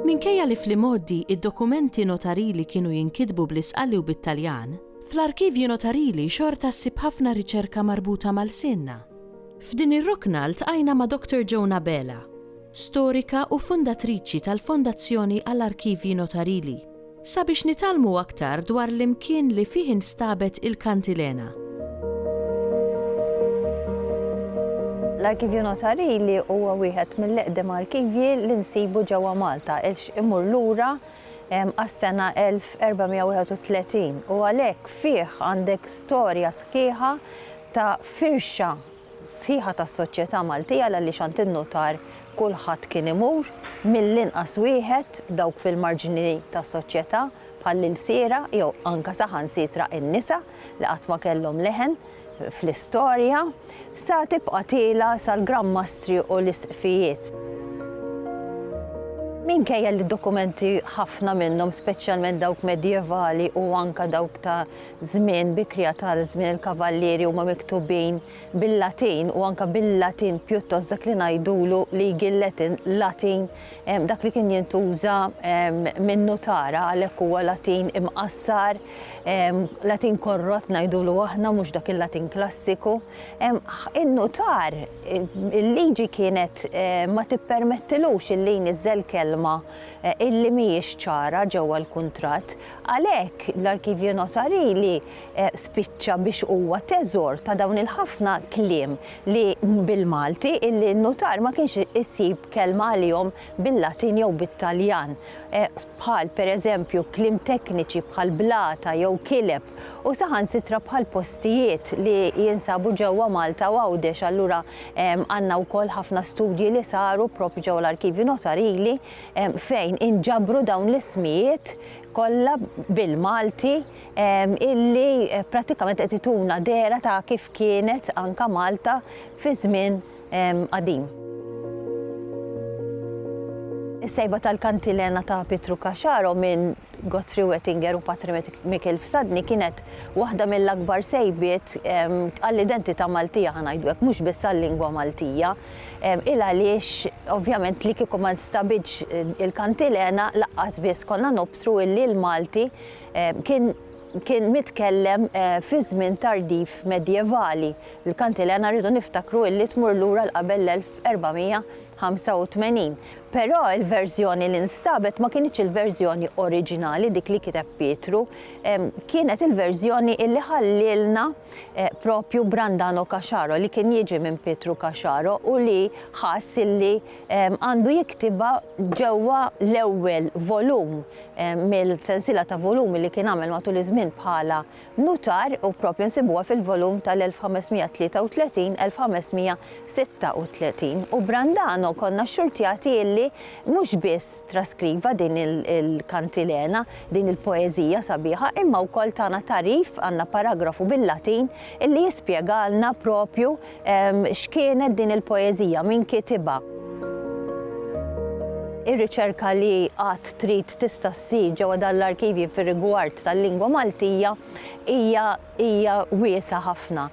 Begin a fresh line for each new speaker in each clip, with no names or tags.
Minkejja li fl-imgħoddi d-dokumenti notarili kienu jinkitbu bl-Isqali u bit-Taljan, fl-arkivji notarili xorta ssib ħafna riċerka marbuta ma' lsienna. F'din ir-rokna ltqajna ma' Doctor Joan Abela, storika u fundatriċi tal-Fondazzjoni għall-Arkivji Notarili, sabiex nitgħallmu aktar dwar l-imkien li fih instabet il-kantilena. L-Arkivju Notarili huwa wieħed mill-eqdem arkivji li nsibu ġewwa Malta għax imur lura għas-sena 1431 u għalhekk fih għandek storja sħiħa ta' firxa sħiħa tas-soċjetà Maltija għaliex għand in-nutar kulħadd kien imur, mill-inqas wieħed, dawk fil-marġni tas-soċjetà bħall-ilsiera jew anke saħansitra in-nisa li qatt ma kellhom leħen fl-istorja, sa tibqa' tiela' sal-Gran Mastri u l-Isqfijiet. Minkejja li d-dokumenti ħafna minnhom, speċjalment dawk medjevali u anke dawk ta' żmien bikrija ta' żmien il-kavallieri huma miktubin bil-Latin u anke bil-Latin pjuttost dak li ngħidulu legal Latin, Latin dak li kien jintuża min-nutara għalhekk huwa Latin imqassar, Latin korrott ngħidulu aħna mhux dak il-Latin klassiku. In-nutar il-liġi kienet ma tippermettilux illi jniżżel kelma illi mhijiex ċara ġewwa l-kuntratt. Għalhekk, l-arkivju notarili spiċċa biex huwa teżor ta' dawn il-ħafna kliem li, bil-Malti, in-nutar ma kienx isib kelma għalihom bil-Latin jew bit-Taljan, bħal, per eżempju, kliem tekniċi bħal blata jew kileb, u saħansitra bħal postijiet li jinsabu ġewwa Malta u Għawdex. Allura għandna wkoll ħafna studji li saru proprju ġewwa l-arkivju notarili. fejn inġabru dawn l-ismijiet kollha bil-Malti illi pratikament qed ituna dera ta' kif kienet anka Malta fi żmien qadim. Is-sejba tal-kantilena ta' Pietru Caxaro minn Godfrey Wettinger u Patri Mikiel Fsadni kienet waħda mill-akbar sejbiet għall-identità Maltija ħa ngħidu hekk, mhux biss għal-lingwa Maltija. Il għaliex ovvjament li kieku ma nstabitx il-kantilena laqqas biss konna nobsru illi l-Malti kien kien mitkellem fi żmien tardiv medjevali. Il-kantilena rridu niftakru illi tmur lura 'l qabel l-1485. Però il-verżjoni li nstabet ma kinitx il-verżjoni oriġinali dik li kiteb Pietru, kienet il-verżjoni illi ħallielna, propju Brandano Caxaro li kien jiġi minn Pietru Caxaro u li ħass illi għandu jiktibha ġewwa l-ewwel volum mill-sensiela ta' volumi li kien għamel matul iż-żmien bħala nutar u propju nsibuha fil-volum tal-1533, 1536. U Brandano konna xxurtjati illi mhux biss traskriva din il-kantilena, Din il-poeżija sabiħa imma wkoll tagħna tagħrif, għandna paragrafu bil-Latin illi jispjegalna proprju x'kienet din il-poeżija, min kitibha. Ir-riċerka li għad trid tista' ssir ġewwa dan l-arkivji fir-rigward tal-lingwa Maltija hija hija wiesgħa ħafna.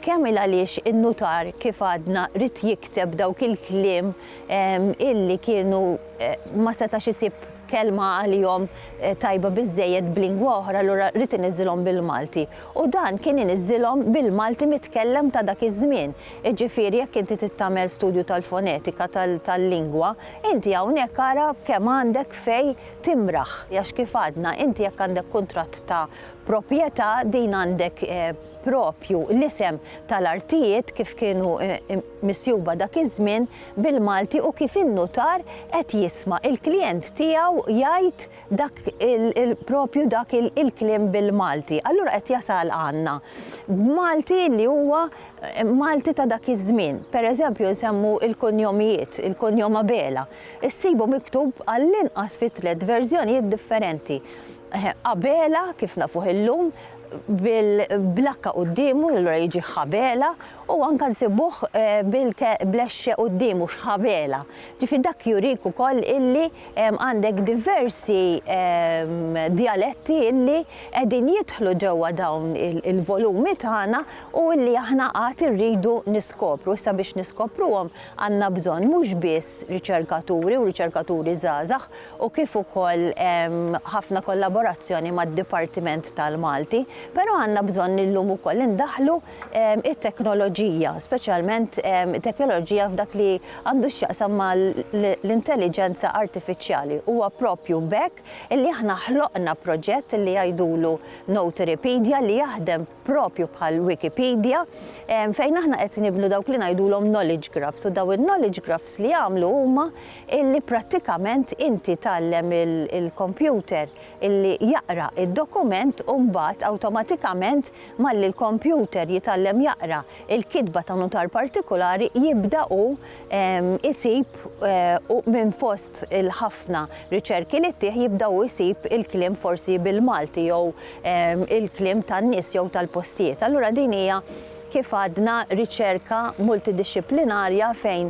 Kemm il għaliex in-nutar kif għadna rid jikteb dawk il-kliem illi kienu ma setax isib kelma għalihom tajba biżżejjed b'lingwa oħra allura ried iniżżilhom bil-Malti. U dan kien iniżżilhom bil-Malti mitkellem ta' dak iż-żmien. Iġifieri jekk inti trid tagħmel studju tal-fonetika tal-lingwa, inti hawnhekk ara kemm għandek fejn timraħ. Għax kif għadna, inti jekk għandek kuntratt ta' proprjetà din għandek proprju l-isem tal-artijiet kif kienu misjuba dak iż-żmien bil-Malti u kif in-nutar qed jisma' l-klijent tiegħu jgħid dak propju dak il-kliem bil-Malti. Allura qed jasal għandna b'Malti li huwa Malti ta' dak iż-żmien. Pereżempju nsemmu l-kunjomijiet, il-kunjom Abela. Issibu miktub għall-inqas fi tliet verżjonijiet differenti. Abela kif nafuh illum bil-H quddiemu, allura jiġi Ħabela, U anke nsibuh bil-keblex quddiemu, xħabela. Ġifieri dak jurik ukoll illi għandek diversi djaletti illi qegħdin jidħlu ġewwa dawn il-volumi tagħna u illi aħna għad irridu niskopru. Issa biex niskopruhom għandna bżonn mhux biss riċerkaturi u riċerkaturi żgħażagħ u kif ukoll ħafna kollaborazzjoni mad-Dipartiment tal-Malti, però għandna bżonn illum ukoll indaħħlu it-teknoloġija, speċjalment teknoloġija f'dak li għandu x'jaqsam mal-intelliġenza artifiċjali. Huwa proprju b'hekk li aħna ħloqna proġett li jgħidulu Notarypedia li jaħdem proprju bħal Wikipedia fejn aħna qed nibnu dawk li ngħidulhom knowledge graphs u dawn il-knowledge graphs li jagħmlu huma li prattikament inti tgħallem il-kompjuter li jaqra d-dokument u mbagħad awtomatikament Malli l-kompjuter jitgħallem jaqra l-kitba ta' nutar partikulari, jibda hu jsib u minn fost il-ħafna riċerki li ttih jibda hu jsib il-kliem forsi bil-Malti jew il-kliem tan-nies jew tal-postijiet. Allura din hija kif għadna riċerka multidixxiplinarja fejn